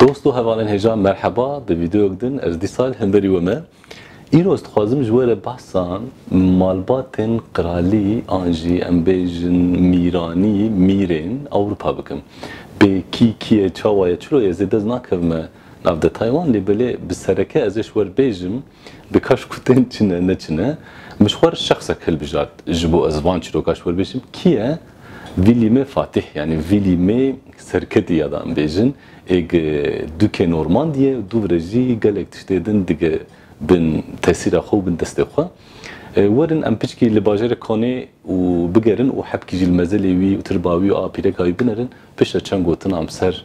Dost û hevalên hêja merheba di vîdeoyek din ez dîsal hemberî we me. Îro ez dixwazim ji we re behsa malbatên qiralî an jî em bêjin mîranî, mîrên Ewropa bikim. Bê kî kî ye, çawa ye, çiro ye zêde ez nakevime nav detay wan lê belê bi sereke ez ê ji we re bêjim Dika ji ku tên çin e ne çin e. Min ji xwe re şexsek hilbijart ji bo ez van çîrokan ji we re bêjim. Kî ye? Vî lîmê Fatîh yanî vî lîmê serketî ya da em bêjin. Ê gi dûkê Normandiyê û dûv re jî gelek tiştê din dige bin tesîra xwe û bin destê xwe. Werin em piçkî li bajarê Konê û bigerin û hebkî jî li mezelê wî û tirba wî û apîreka wî binerin piştre çend gotin am ser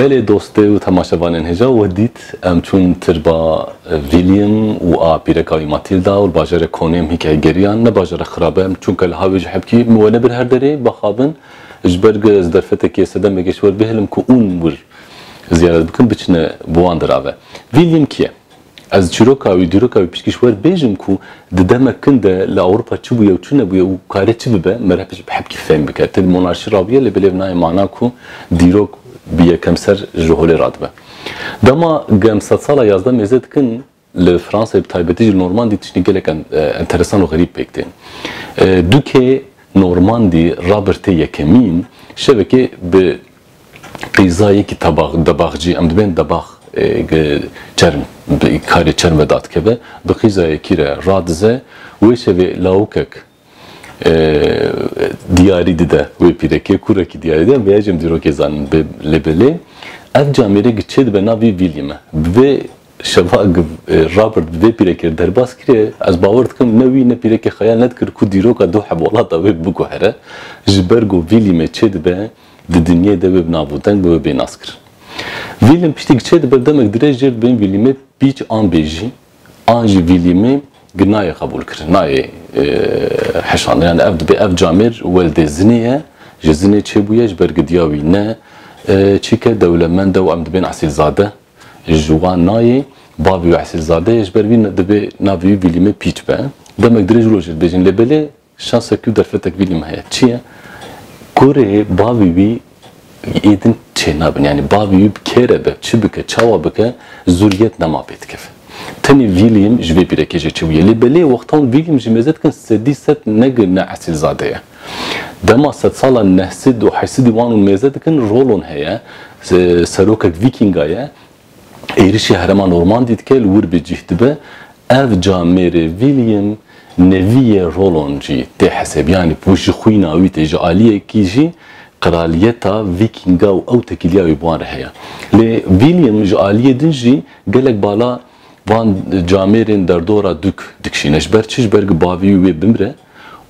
Belê dostê û temaşevanên hêja we dît. Em çûn tirba William û a pîreka wî Matilda û li bajarê Konêm hîkayê geriyan. Ne bajar e xirab e, çûnke li hawê ji hebkî min we nebir her derê ba xabin. Ji ber ku ez derfetekê sedemekê ji we bihêlim ku ûn wir ziyaret bikin biçine bi wan dira ve. Vî lîm kî ye? Ez çîroka wî, dîroka wî piştgî ji we dibêjim ku di demek kin de li Ewropa çi bûye û çi nebûye û karê çi bibe me re bi hepkî fehm bike. Til monarşî rabûye lê bilêv nayê mana ku dîrok bi yekemser ji holê radibe. Dema ku em sedsala yazdeh mêze dikin Li Fransayê bi taybetî jî Normandî tiştî gelek enteresan û xerîb pêk tên. Dûkê Normandî Rabirtê Yekemîn şevekê bi qîza yekî tabax, debaxcî, em dibên debax çerm bi karê çerm ve dadikeve, bi qîza yekî re radize. Wê şevê lawikek diyarî dide wê pîrekê, kurekî diyarî dide, vêya jî em dîrokê zanin. Lê belê ev camêrê gi çê dibe nav vî vîlî me. Bi vê şeva Robert bi vê pîrekê re derbas kiriye, ez bawer dikim ne wî ne pîrekê xwe ya nedikir ku dîroka du hevolata wê biguhere. Ji ber ku vîlî me çê dibe, di dinyayê de wê bi nav û deng be, wê bê naskirin. Vîlî me piştî gi çê dibe, demek dirêj jêr dibin vîlî me pîç an bêjî, an jî vîlîmê gi nayê qebûl kirin, nayê heşandin. Yani ev dibe ev camêr weldê zinê ye, ji zinê çêbûye ji ber gidiya wî ne çîke dewlemend e û em dibên esîlzade ji wan nayê. Bavê wî esîlzade ye ji ber vî dibê navê wî vîlîmê pîç be. Demek dirêj rojê dibêjin lê belê Şansek tu derfetek vî lîm heye. Çi ye? Kurê bavî wî yê din çênabin. Yanî bavî wî bi kê re be, çi bike, çawa bike zûriyet nema pê dikeve. Tenê vî lîm ji vê pîrekê jê çêbûye. Lê belê wextan vî lîm ji mêze dikin sedî sed ne gi ne esîlzade ye. Dema sedsalan nehsîd û heysidî wan û mêze dikin rolon heye. Serokek vîkînga ye. Êrişî herêma Normandî dike li wir bi cîh dibe. Ev ca mêrê William neviyê Rolon jî tê hesêbiyanî ku ji xwîna wî tê, ji aliyekî jî qiraliyeta Vîkînga û ew tekiliya wî bi wan re heye. Lê William ji aliyê din jî gelek bala van camêrên derdora dûk dikişîne. Ji ber çi? Ji ber ku bavî wî wê bimire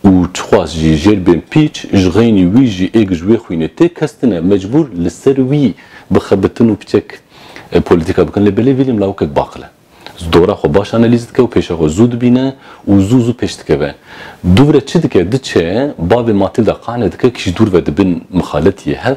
Û çixwaz jî jêr bên pîç, ji xeynî wî jî êg ji wê xwînê tê kestine, mecbûr li ser wî bixebitin û piçek polîtîka bikin. Lê belê William lawikek baqil e. Ji dora xwe baş analîz dike û pêşa xwe zû dibîne û zû zû pêş dikeve. Dûvre çi dike, diçe bavê Matilda qane dike kî ji dûr ve di bin mixaletiyê hev,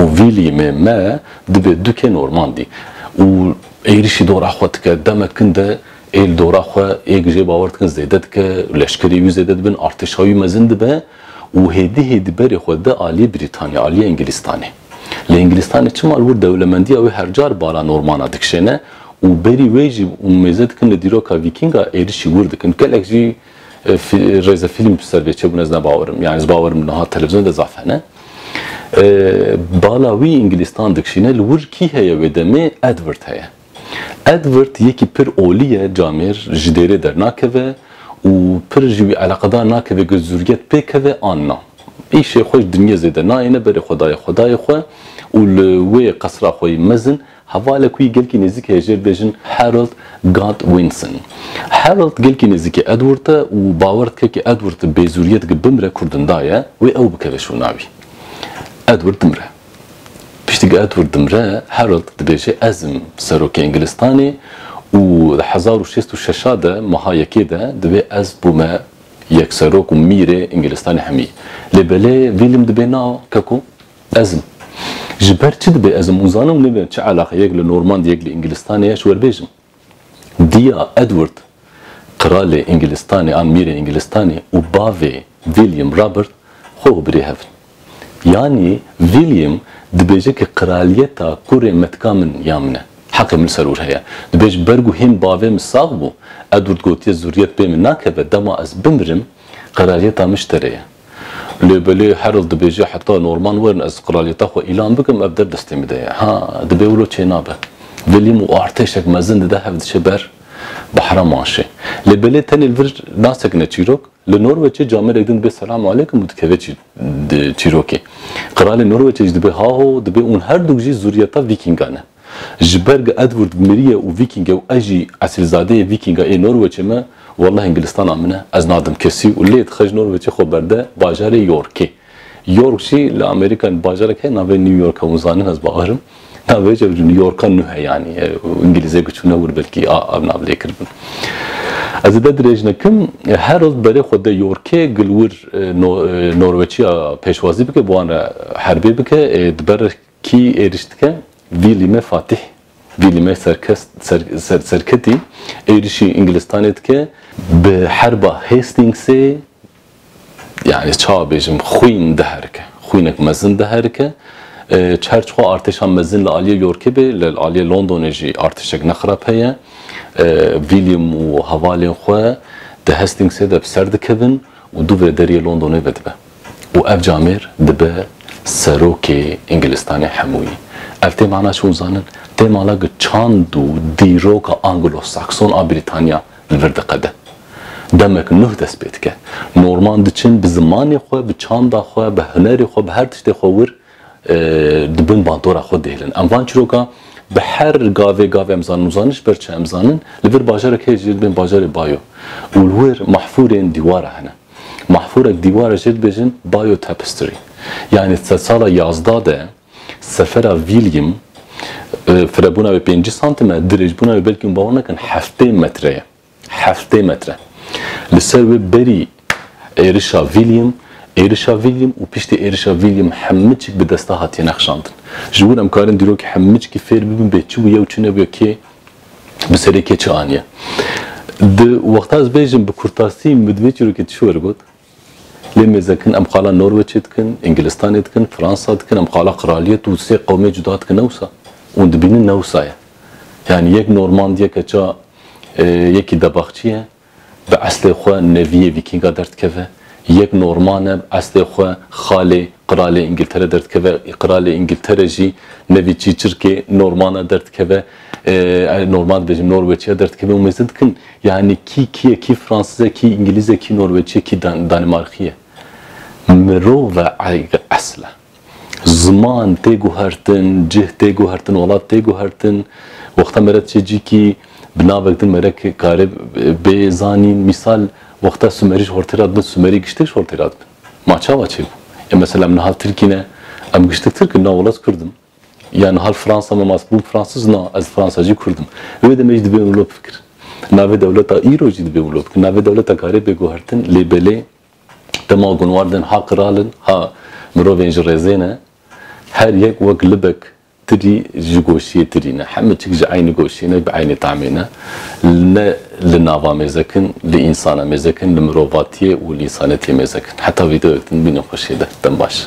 û vî lîmê me divê dûkê normal dî û êrîşî dora xwe dike demek kin de ê li dora xwe ê gijê bawer dikin zêde dike leşkerê wî zêde dibin artêşa wî mezin dibe û hêdî hêdî berê xwe dide aliyê Brîtanya aliyê Engilîstanê lê Engilîstanê çima li wir dewlemendiya wê her car bala normana dikişêne û berî wê jî mêze dikin li dîroka vîkînga êrîşî wir dikin gelek jî Rêze fîlm bi ser vê çêbûn ez ne bawer im. Yanî ez bawer im niha televîzyon de zaf hene. Bala wî Îngilîstan dikişîne li wir kî heye wê demê Edward heye. Edward yekî pir olî ye camêr ji dêrê dernakeve û pir ji wî eleqedar nakeve ku zûriyet pê keve an na. Îşê xwe ji dinyê zêde nayêne berê xwe dayê xwe dayê xwe û li wê qesra xwe yê mezin Hevalek wî gelkî nêzîk heye jêr bêjin Harold Godwinson. Harold gelkî nêzîkê Edward e û bawer dike ke Edward bêzûriyê dike bimre ku dinda ye wê ew bikeve şûna wî. Edward dimre. Piştî ku Edward dimre Harold dibêje ez im serokê Ingilistanê û di hezar û şêst û şeş a de meha yekê de divê ez bûme yekserok û mîrê Ingilistanê hemî. Lê belê William dibê na keko Ezm. Ji ber çi dibe ezm û zanim nebe çi eleqe yek li Normand yek li Îngilîstanê ye ji we bêjim. Diya Edward Kralê Îngilîstanê an Mîrê Îngilîstanê û bavê William Robert xwe û birê hev in. Yanî William dibêje ke kraliyeta kurê me tika min ya min e. Heqê min li ser wir heye. Dibe ji ber ku hêm bavê min sax bû, Edward gotiye zuriyet pê min nakeve dema ez bimirim kraliyeta min ji te re ye. Lê belê Harold dibêje heta Norman werin ez qralyeta xwe îlan bikim ev dev destê min de ye. Ha, dibê wilo çênabe. William û artêşek mezin dide hev diçe ber bahra Manşê. Lê belê tenê li vir nasekine çîrok. Li Norweçê camerek din dibê selam aleykum û dikeve çîrokê. Qralê Norweçê jî dibê haho dibê ûn herdûk jî zûriyeta Vîkîngan in. Ji ber ge Edward mirî ye û Vîkîng e û ez jî esilzadeyê Vîkîng a ê Norweçê me, welleh Îngilistana min e, ez nadim kesî û lê dixe ji Norweçê xwe berde bajarê Yorkê. York jî li Amerîkayê min bajarek heye navê New York e, hûn zanin ez bawer im. Navê ji New Yorka nû he yanî Îngilîzê ku çûne wir belkî a ev nav lê kiribin. Ez zêde dirêj nekim, her roz bi berê xwe de Yorkê gilwir Norweçiya pêşwazî bike, bi wan re herbê bike ê di ber Kî êriş dike? Vîlîme Fatîh, Vîlîme Serketî êrişî Îngilistanê dike. Bi herba Hastîngsê yanî çawa bêjim xwîn diherike, xwînek mezin diherike. Çar çixwe artêşa mezin li aliyê Yorkê bê, li aliyê Londonê jî artêşek ne xirab heye. Vîlîm û hevalên xwe di Hastîngsê de bi ser dikevin û dû vê deriyê Londonê vedibe. û ev camêr dibe serokê Îngilistanê hemûyî. Ev tê mana çi û zanin tê mala ku çand û dîroka Anglo-Sakson a Brîtanya li vir diqede. Demek nuh dest pê dike. Norman diçin bi zimanê xwe, bi çanda xwe, bi hunerê xwe, bi her tiştê xwe wir di bin bandora xwe dihêlin. Em van çîroka bi her gavê gavê em zanin û zanin ji ber çi em zanin li vir bajarek heye jî li bin bajarê bayo û li wir mahfûrên dîwara hene. Mahfûrek dîwarê jê dibêjin Biotapestry. Yanî di sedsala yazda de sefera William firebûna wê pêncî santim e, dirêjbûna wê belkî hûn bawer nakin heftê metre ye. Heftê metre. Li ser wê berî êrişa William, êrişa William û piştî êrişa William hemmiçik bi desta hatiye nexşandin. Ji wir em karin dîrokî hemmiçkî fêr bibin bê çi bûye û çi nebûye kê bi serê kê çi aniye. Di wexta ez bêjim bi kurtasî min bi vê çîrokê ti şiwer got, lê mêzekin em xala Norweçê dikin, Îngilistanê dikin, Fransa dikin, em xala qiraliyet û sê qewmê cuda dikin ne wisa. Hûn dibînin ne wisa ye. Yanî yek Normandiyeke ça yekî Debaxçî ye. Bi estê xwe neviyê vîkînga derdikeve, yek Norman e, bi estê xwe xalê Qiralê Îngiltere derdikeve, Qiralê Îngiltere jî nevî çîçirkê Norman a derdikeve, Norman dibêjin Norweçî a derdikeve û mêzin dikin yanî kî kî ye, kî Fransîz e, kî Îngilîz e, kî Norweçî ye, kî Danîmarkî ye. Mirov e esil e. Ziman tê guhertin, cih tê guhertin, welat tê guhertin. Wexta me re çê cîkî bi navek din me re kare bê zanîn. Mîsal wexta Sumerî ji holtê re dibin, Sumerî giştek ji holtê re dibin. Ma çawa çêbû? Ê mesela em niha Tirkî ne, em giştek Tirk in, na welat Kurd in. Ya niha li Fransa me ma bûm Fransûz, na ez Fransacî Kurd im. Wê demê jî dibê wilo bifikrin. Navê dewleta îro jî dibê wilo bikin. Navê dewleta kare bê guhertin lê belê. Dema gunwardên ha qiralin, ha mirovên ji rêzê ne, her yek wek libek tirî ji goşiyê tirî ne. Heme çik ji eynî goşiyê ne, bi eynî tamê ne. Ne li nava mêzek in, li însana mêzek in, li mirovatiyê û li însanetiyê mêzek in. Heta vîdeoyek din bînin xweşiyê de. Dem baş.